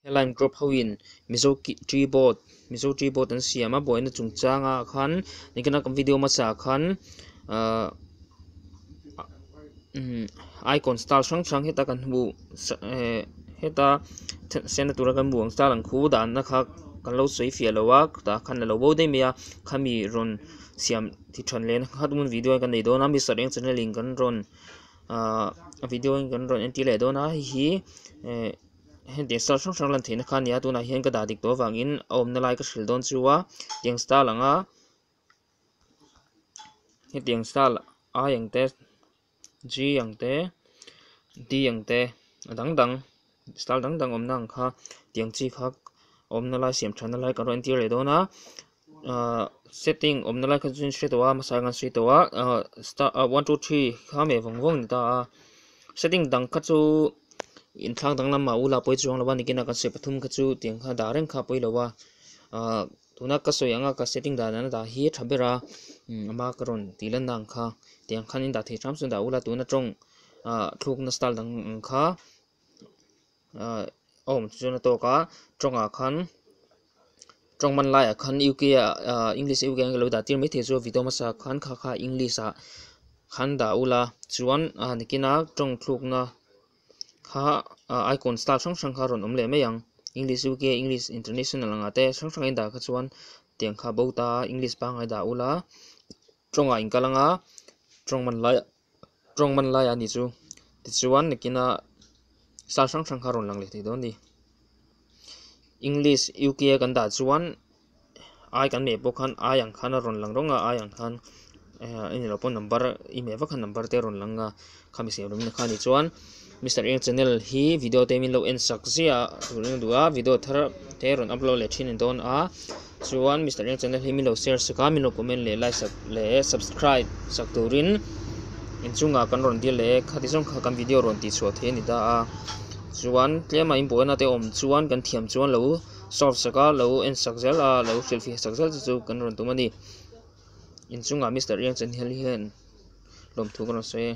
He line crop hoin Mizo Tree Board, Mizo Tree Board an siam a, buaina chungchanga khan nikina kan video hmasa khan icon style hrang hrang heta kan hmu heta siam na tura kan hmu ang style ang khu danna kha kan lo sawi fiah lo a, tah khan la lo bo daih mai a, khami rawn siam ti than leh na kha tumun video kan nei dawn a, Mister Eng Channel in kan rawn video kan rawn entir leh dawn a, hei hi. hengtih sal hrang hrang lantheihna kha a ni a tunah hian ka dah dik tawh avangin a awmna lai ka hrilh dawn chu a tiang star ang a hetiang star i ang te g ang te d ang te a dang dang star dang dang awmna ang kha tiang chi kha awmna lai siam tha na lai ka rawn entir leh dawn a. Ahh setting awmna lai kha chu in hre tawh a hmasa erawh an sawi tawh a ahh star ahh one two three kha meh vang vang a ni ta a setting dang kha chu inthlak dang lamah u la pawisa chuang lo a nikina kan sawi pathum kha chu tiang kha dah reng kha a pawi lo a ahh tuna ka sawi ang a ka setting dan dan a dah hi tha ber a a hma ka rawn tih lanna ang kha tiang khan in dah thei thram chu dah u la tuna tawng ahh thlukna style dang ang kha. ah awm chu chuan a tawk a tawngah khan tawng hman laiah khan u k ah ah english u k an lo dah tir maithei chu a vitawm a sa khan kha kha english ah khan dah ula chuan a han ken a tawng thlukna kha ah icon star hrang hrang kha a rawn awm leh mai ang english u k english international ang ah te hrang hrang a indah kha chuan tiang kha a bo ta a english pangngai dah ula tawngah a inkal ang a tawng hman laiah-- Tawng man laia ani chu. Tichuan nikina sal hrang hrang kha rawn lang leh thei dawn a ni. English UK a kan dah chuan ai kan meh pawh khan ai ang khan a rawn lang rawnga ai ang khan eng emaw pawh number i meh vak khan number te a rawn lang a khamiseh awmna kha ni chuan. Mister Eng channel hi video te min lo en sak zia tur in duh a video thar te rawn upload leh thin in dawn a chuan Mister Eng channel hi min lo share sak a min lo comment leh like sak leh subscribe sak tur in in chunga kan rawn dir leh khati zawng kha kan video rawn tih chhuah thei a ni ta a chuan tlema in buaina te awm chuan kan thiam chuan lo solve sak a lo en sak zel a lo hrilhfiah sak zel te chu kan rawn tum a ni in chunga Mister Eng channel hian lawmthu ka rawn sawi a.